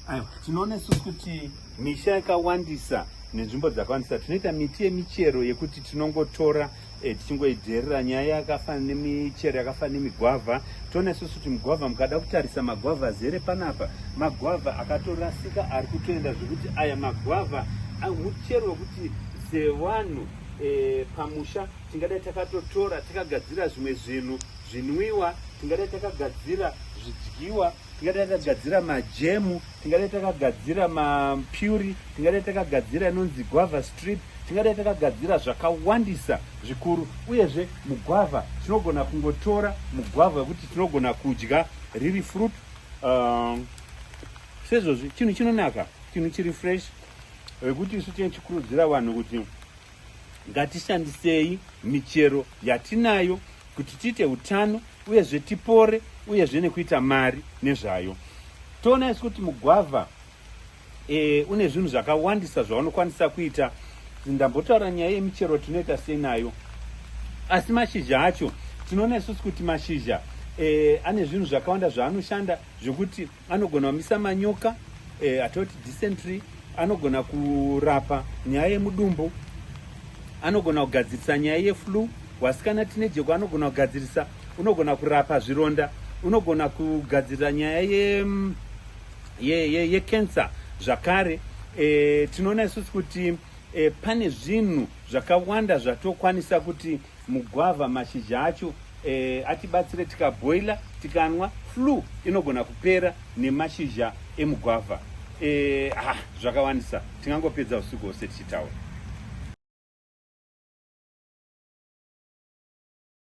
Aiwa, tinoona isusu kuti misha yakawandisa nenzvimbo dzakawandisa tinoita miti yemichero yekuti tinongotora eh, tichingoidherera nyaya yakafanana nemichero yakafanana nemigwavha toona isusu kuti mugwavha mukada kutarisa magwavha azere panapa magwavha akatorasika ari kutoenda zvekuti aya magwavha ah, muchero wekuti sevanhu eh, pamusha tingadai takatotora takagadzira zvimwe zvinhu zvinwiwa tingadai takagadzira zvidyiwa tingadai takagadzira majemu tingadai takagadzira mapuri tingadai takagadzira inonzi guava strip tingadai takagadzira zvakawandisa zvikuru uyezve mugwavha tinogona kungotora mugwavha wekuti tinogona kudya riri fruit uh, sezvozvi chinhu chinonaka chinhu chiri fresh wekuti isu tichikurudzira vanhu kuti Ngatishandisei michero yatinayo kuti tiite utano uyezve tipore uyezve nekuita mari nezvayo. Toona isu kuti mugwavha e, une zvinhu zvakawandisa zvaunokwanisa kuita. Ndambotaura nyaya yemichero tinoita sei nayo, asi mashizha acho tinoona isusu kuti mashizha e, ane zvinhu zvakawanda zvaanoshanda zvekuti anogona kumisa manyoka eh, atoti dysentery anogona kurapa nyaya yemudumbu anogona kugadzirisa nyaya yeflu wasikana tine jeko anogona kugadzirisa unogona kurapa zvironda unogona kugadzirira nyaya yecancer ye, ye, ye zvakare e, tinoona isusu kuti e, pane zvinhu zvakawanda zvatokwanisa kuti Mugwavha mashizha acho eh, atibatsire tikaboiler tikanwa flu inogona kupera nemashizha emugwavha eh, ha zvakawandisa tingangopedza usiku hwose tichitaura